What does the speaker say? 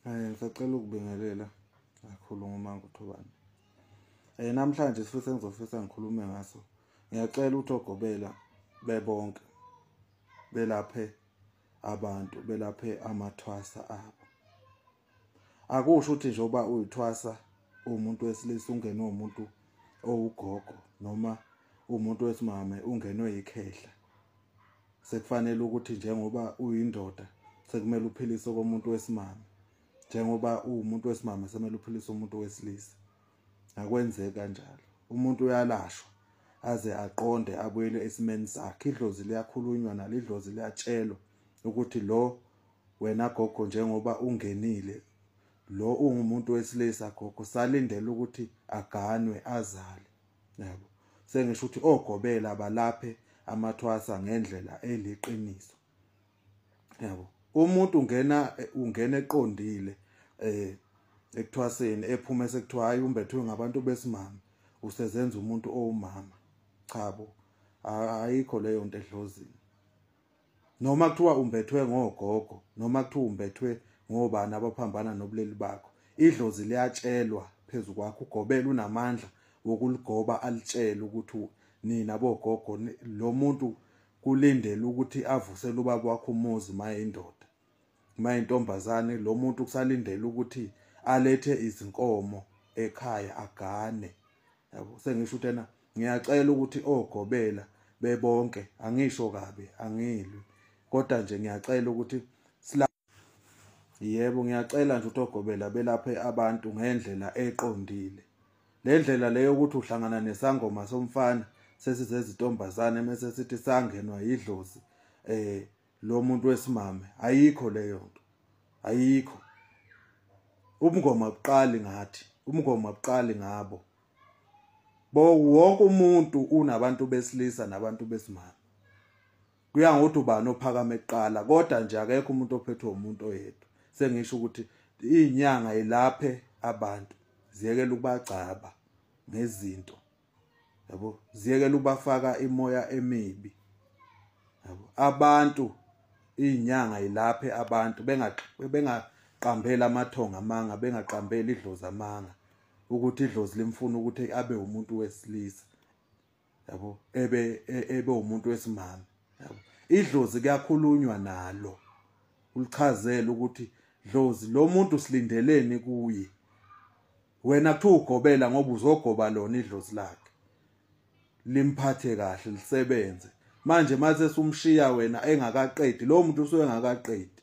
Eh ngisacela ukubingelela kakhulu ngomanga uthobani. Eh namhlanje sifisa ngizofisa ngikhulume ngaso. Ngiyacela ukuthi ogobela bebonke belaphe abantu belaphe amathwasa abo. Akusho ukuthi nje uba uyithwasa umuntu wesilisa ungenwe umuntu owugogo noma umuntu wesimame ungenwe yikhehla sekufanele ukuthi njengoba uyindoda sekumele uphilise komuntu wesimame njengoba uwumuntu wesimame sekumele uphilise umuntu wesilisa akwenzeki kanjalo umuntu uyalashwa aze aqonde abuyele esimeni sakhe idlozi liyakhulunywa nalidlozi liyatshelwa ukuthi lo wena gogo njengoba ungenile lo ungumuntu wesilisa gogo salindele ukuthi aganwe azale yabo sengisho ukuthi ogobela balaphe amathwasa ngendlela eliqiniso yabo umuntu ungena ungena eqondile eh ekuthwaseni ephuma sekuthiwa hayi umbethwe ngabantu besimama usezenza umuntu owumama cha bo ayikho leyo nto edlozini noma kuthiwa umbethwe ngogogo noma kuthiwa umbethwe ngobani abaphambana nobuleli bakho idlozi liyatshelwa phezu kwakho ugobela unamandla wokuligoba alitshele ukuthi nina bogogo lo muntu kulindele ukuthi avusele ubaba wakho umuzi mayindoda uma intombazane lo muntu kusalindele ukuthi alethe izinkomo ekhaya agane yabo sengisho ukuthi ena ngiyacela ukuthi ogobela bebonke angisho kabi angilwi kodwa nje ngiyacela ukuthi sila yebo ngiyacela nje ukuthi ogobela belaphe abantu ngendlela eqondile le ndlela leyo ukuthi uhlangana nesangoma somfana sesizezintombazane mese sithi sangenwa yidlozi eh lo muntu wesimame ayikho leyo nto ayikho umngoma buqali ngathi umngoma buqali ngabo bo wonke umuntu unabantu besilisa nabantu besimame kuya ngokuthi ubani ophakame kuqala kodwa nje akekho umuntu ophethwe umuntu oyedwa sengisho ukuthi inyanga ilaphe abantu ziyekela ukubagcaba ngezinto yabo ziyekela ubafaka imoya emibi yabo abantu inyanga ilaphe abantu bengaqambela amathonga amanga bengaqambela idlozi amanga ukuthi idlozi limfuna ukuthi abe umuntu wesilisa yabo ebe e, ebe umuntu wesimama yabo idlozi kuyakhulunywa nalo ulichazela ukuthi dlozi lo muntu silindeleni kuye wena kuthiwa ugobela ngoba uzogoba lona idlozi lakhe limphathe kahle lisebenze manje mase sumshiya wena engakaqedi lo muntu usuyengakaqedi